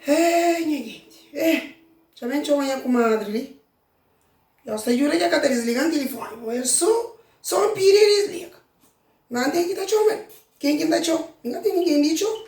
Hei, nha genti, eh, dja ben txoma nha kumadri li. Nhos ta djuda dja ka ta disliga-m tilifoni, ma el so, so inpidi el disliga. Má N ten ki ta txoma el. Ken ki N ta txoma? N ka ten ningen di txoma.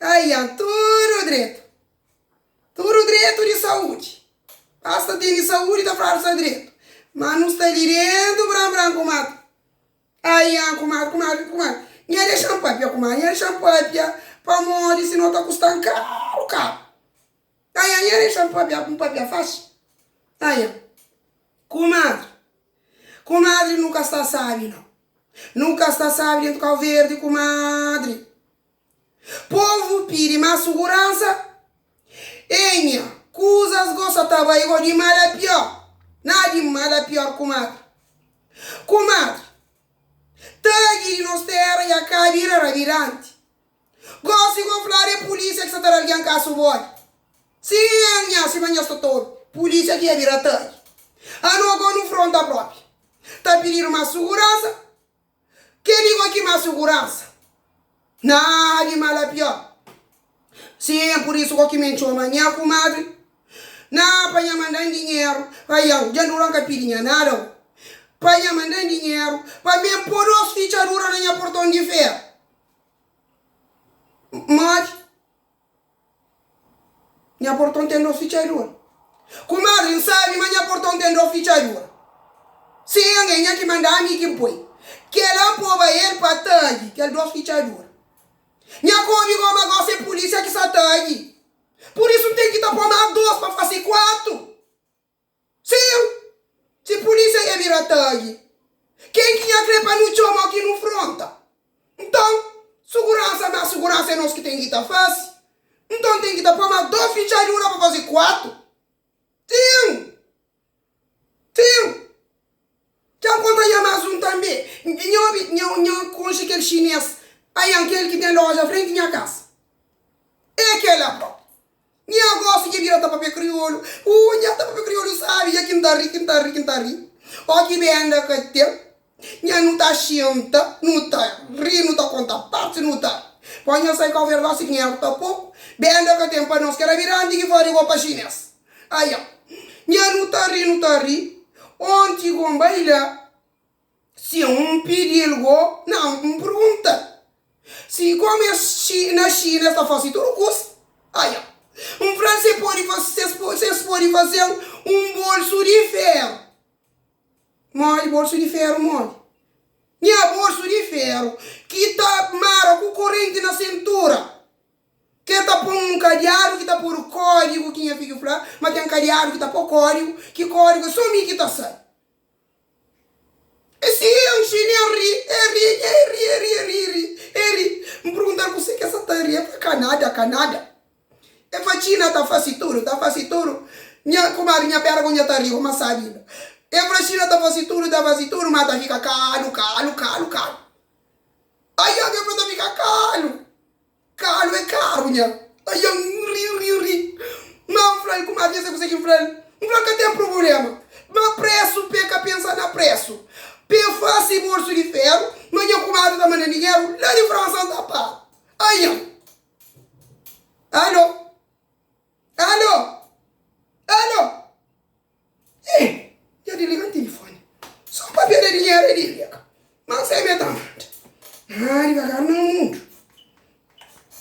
Aia tudu dretu. Tudu dretu di saúdi. Pasta tem di saúdi ta fradu sa dretu. Má nu sta li dentu bran bran ku matu. Aia kumadri kumadri kumadri. Nha dexan pâpia kumadri nha dexan pâpia pamodi si no ta kustan karu karu. Aia nha dexan pâpia ku pâpia faxi. Aia kumadri kumadri nu ka sta sábi nau. Nu ka sta sábi dentu Kauverdi kumadri. Povu pidi más suguransa. Nha, kuzas gosa ta bai go di mal a pior. Na di mal a pior kumadri. Kumadri, Tadji di nos terra ya ka bira rabilanti. Gosi go fladu é polícia ki sa ta da algen kasu bodi. Si nha, sima nhas totoru, polícia ki ya bira tadji. Ano go nu fronta propi ta pididu más suguransa. Ke di gó ki má suguransa na di mal a pior Sin pur isu gó ki m'en txoma nha kumadri Na pa nha manda-m dinheru pa iau Dja dura-m ka pidi nha nada o Pa nha manda-m dinheru pa m'en po dos fitxadura na nha porton di feru Modi Nha porton ten dos fitxadura Kumadri, N sabe ma nha porton ten dos fitxadura Si é angen nha ki manda ami ki N poi Kela N poba el pa tagi kel dos fitxadura Nha kobi goma gosi é pulisia ki sa tagi Pur isu N ten ki ta po más dos pa fase kuatu Se eu, si pulísia ia bira tagi, ken ki nha kre pa nu txoma ki nu fronta? Nton, suguransa na suguransa é nos ki ten ki ta fase. Nton ten ki ta poi más dos fitxadura pa fase kuatu? Sim! Sim! Dja N konta nha más un tanbê Nha obi nha konxe kel xinês Anhan kel ki ten loja frenti nha kasa É kel la própi Nha gosi dja bira ta papia kriolu Uu nha ta papia kriolu sábi dja ki N ta ri ki N ta ri ki N ta ri Ó ki benda ka ten nha nu ta xinta nu ta ri nu ta konta partis nu ta ri Pó nha sai kau vergosi ki nha ervu ta poku benda ka ten pa nos Kel abiranti ki fla rigó pa xinês. Aia! Nha nu ta ri, nu ta ri, onti go N bai la si N pidi el go na N pergunta si komu es na Xina es ta fase tudu kusa. Aia! N fla-l si es podi fase-m un bolsu di feru. Modi bolsu di feru? Modi? Nha bolsu di feru ki ta mara ku korenti na sintura. Ke ta pô-m nun kadiadu ki ta podu kódigu ki nha fidju fla ma ten kadiadu ki ta pô kódigu, ki kódigu é sô mi ki ta sai. E si e nxi ne el ri, e ri, nha e ri, e ri, e ri, e ri, e ri. N pergunta-l kuse ke sa ta ri, e fla ka nada, ka nada. E fla Txina ta fase tudu, ta fase tudu, nha kumadri, nha pera ku nha ta ri bo ma sabi la. E fla Txina ta fase tudu, ta fase tudu, ma ta fika kalu, kalu, kalu, kalu. Ai obi e fla ta fika kalu. Kalu é karu nha. Ai N ri, ri, ri. Má N fla-l kuma bês el konsigi, N fla-l. N fla-l ka ten prubulema. Má présu p'e ka pensa na présu. P'e fase bolsu di féru. Ma nha kumadu ta manda-m dinheru la di Fransa N ta paga. Ai N. Alô? Alô? Alô? Ei, dja disliga-m tilifoni. Sô pa perde dinheru e disliga. Má N sai mê ta manda. Ná divagar na mundu.